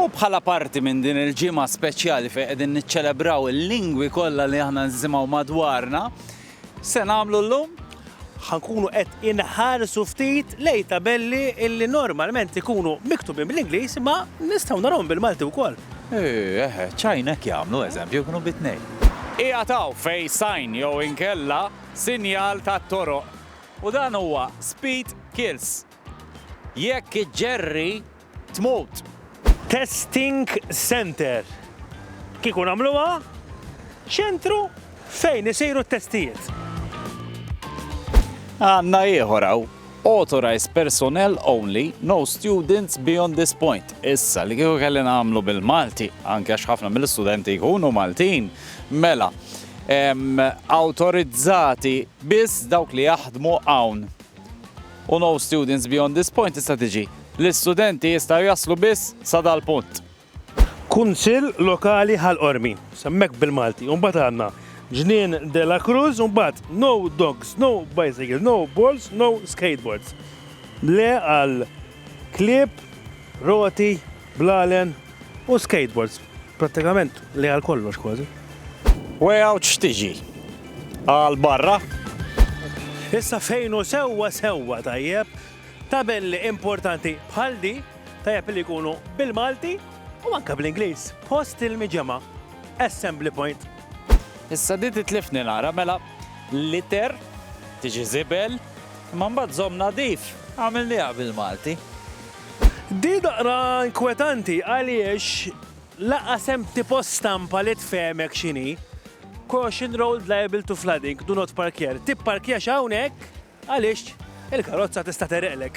U bħala parti minn din il-ġimgħa speċjali fejn qegħdin niċċelebraw il-lingwi kollha li aħna nsimgħu madwarna, x'se nagħmlu llum? Ħa nkunu qed inħarsu ftit lejn tabelli li normalment ikunu miktubin bl-Ingliż imma nistgħu narahom bil-Malti wkoll. Eeh, eħe, ċ-Ċajna hekk jagħmlu, eżempju, jkunu bit-tnejn. Qiegħed hawn fejn sign jew inkella sinjal tat-toroq u dan huwa speed kills. Jekk iġġerri Tmut! Testing Centre. Kieku nagħmluha ċentru fejn isiru t-testijiet. Għandna ieħor hawn. Authorized personnel only, no students beyond this point. Issa, li kieku kelli nagħmlu bil-Malti, anke għax ħafna mill-istudenti jkunu Maltin, mela, autorizzati biss dawk li jaħdmu hawn. u no students beyond this point tista' tiġi l-istudenti jistgħu jaslu biss sa dal-punt. Kunsill Lokali Ħal Qormi, semmek bil-Malti, u mbagħad għandna Ġnien de la Cruz u mbagħad no dogs, no bicycles, no balls, no skateboards. Le għal klieb, roti, Blalen u skateboards, prattikament li għal kollox kważi. Wegħux tiġi għal barra. Issa fejn u sewwa sewwa tajjeb, tabelli importanti bħal di tajjeb li jkunu bil-Malti u anke bl-Ingliż. Post il-miġema, assembly point. Issa di titlifni nara mela liter tiġi zibel, imma mbagħad żomm nadif għamilniha bil-Malti. Di daqra inkwetanti għaliex lanqas hemm tipo stampa li tfehmek x'inhi Caution road liable to flooding, do not park here. Tipparkjax hawnhekk għaliex il-karozza tista' tegħreqlek.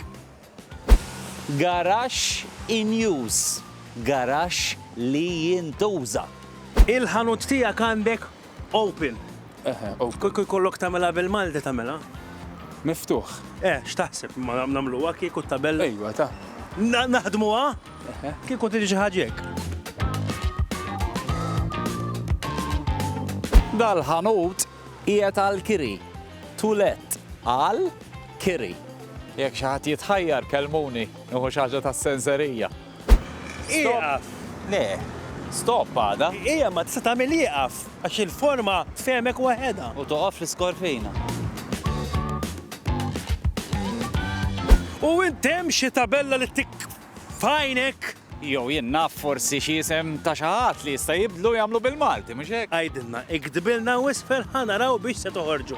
Garaxx in use, garaxx li jintuża. Il-ħanut tiegħek għandek Open. Eħe, open. Kieku jkollok tagħmilha bil-Malti tagħmilha? Miftuħ. Eh, x'taħseb ma nagħmluha kieku t-tabella? Ejwa ta. Naħdmuha? Eħe. Kieku tiġi xi ħaġa hekk. Dal-ħanut qiegħed għall-kiri. To let. Għal kiri. Jekk xi ħadd jitħajjar kellmuni, nieħu xi ħaġa tas-senserija. Ieqaf! Le, stop għadha. Hija ma tista' tagħmel ieqaf għax il-forma tfehmek waħedha. U toqgħod fl-iskorfina. U int hemm xi tabella li tik f'għajnek? Jew jien naf forsi xi isem ta' xi ħadd li jista' jibdlu jagħmlu bil-Malti, mhux hekk? Għidilna, iktbilna u isfel ħa naraw biex se toħorġu.